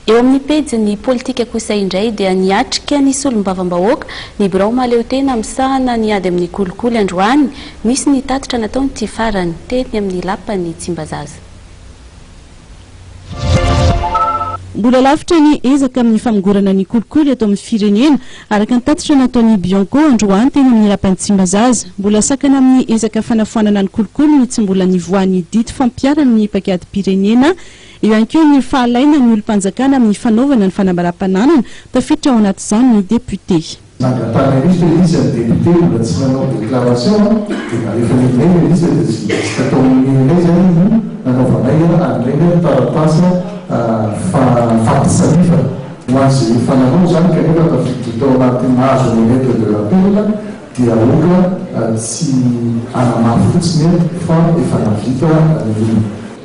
Eo amin'ny pejin'ny politika kosa indray dia niatrika ny solombavambahoaka ny birao mahaleotena misahana ny ady amin'ny kolikoly androany. Nisy ny tatitra nataon'ity farany teny amin'ny lapan'i Tsimbazaza. Mbola lavitra ny ezaka amin'ny famongorana ny kolikoly eto amin'ny firenena, araka ny tatitra nataon'ny Bianco androany teny amin'ny lapan'i Tsimbazaza. Mbola sakana amin'ny ezaka fanafoanana ny kolikoly no tsy mbola nivoahan'ny didy fampiharana ny paikadim-pirenena, Eo ihany koa ny fahalainan'ny olom-panjakana amin'ny fanaovana ny fanambaram-pananana, tafiditra ao anatin'izany ny depiote. Nangatahana indrisy ve ilay izy ny depiote mbola tsy nanao déclaration an, dia na rehefa indray ilay izy dia tsy maintsy atao mino indray izany ny nanaovanay an'ireny ny taratasy fampitsanifana ho an'izay efa nanao izany kanefa tafiditra tao anatin'ny nahazo ny lettre de rappel dia aoka tsy hanamafy fotsiny fa efa nahavita ny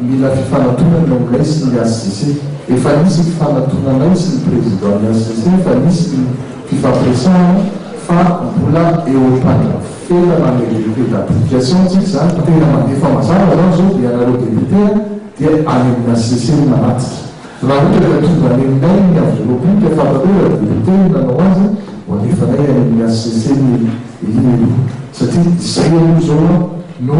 Mila fifanatonana ny nay sy ny HCC. Efa nisy fifanatona nay sy ny président ny HCC, efa nisy ny fifampiresahana fa mbola eo am-pandrafetana ny revue d'application tsika izany fa tena mandefa mazava izany izao dia ianareo députés dia any amin'ny HCC no manatitra. Raha ohatra ka tonga any aminay ny avy repoblika fahavalora dia hotely no nanao azy ho alefanay any amin'ny HCC ny Elia Eloha satria izay aloha izao no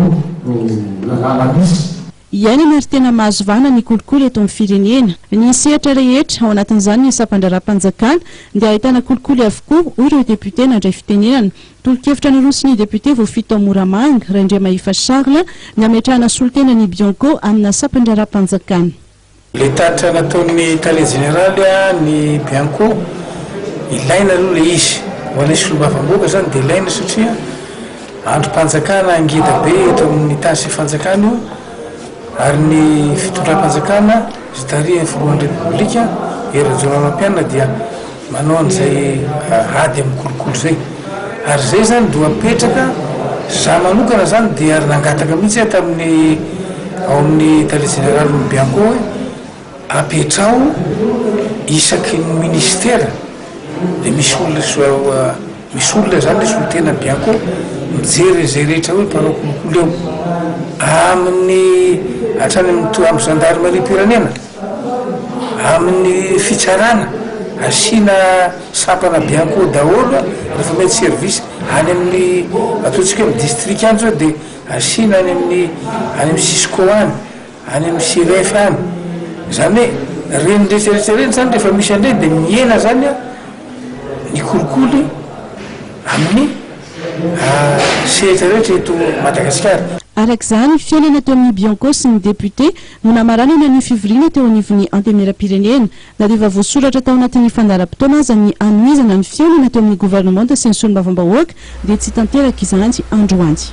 lalàna misy. Iainana ary tena mahazo vahana ny kolikoly eto amin'ny firenena. Ny sehatra rehetra, ao anatin'izany ny sampan-draharaham-panjakana, dia ahitana kolikoly avokoa, hoy ireo depiote nandray fitenenana. Tolo-kevitra naroso ny depiote voafito ao Moramanga, Raindriamahefa Charles, ny hametrahana solontena ny Bianco amina sampan-draharaham-panjakana. Ilay tatitra nataon'ny Tale Jeneraly ny Bianco, ilaina aloha ilay izy. Ho anay Solombavambahoaka izany dia ilaina satria andrim-panjakana ngeda be eto amin'ny tany sy ny fanjakana io ary ny fitondram-panjakana izay tarihin'ny Filohan'ny Repoblika Hery Rajaonarimampianina dia Manao an'izay ady amin'ny kolikoly izay. Ary izay izany dia apetraka, izaho manokana izany dia nangataka mihitsy aho tamin'ny ao amin'ny Tale Jeneralin'ny Bianco hoe apetraho isaky ny Minisitera dia misy olona, misy olona izany ilay solontena Bianco mijery an'izay rehetra hoe mpanao kolikoly ao amin'ny hatrany amin'ny Zandarimarim-pirenena. Amin'ny fitsarana, asiana sampana be akoho daholo ny fournie de service, any amin'ny ataontsika hoe distrika any zao dia asiana any amin'ny any amin'ny cisco any, any amin'ny siref any, zany hoe reny rehetra rehetra reny zany rehefa misy an'ireny dia mihena zany an ny kolikoly amin'ny sehatra rehetra eto Madagasikara. Araka izany, fihaonana teo amin'ny Bianco sy ny député. no namaranana ny fivoriana teo anivon'ny Antenimierampirenena. Na dia efa voasoratra tao anatin'ny fandaharam-potoana aza ny hanohizana ny fihaonana teo amin'ny governemanta sy ny solombavambahoaka dia tsy tanteraka izany androany.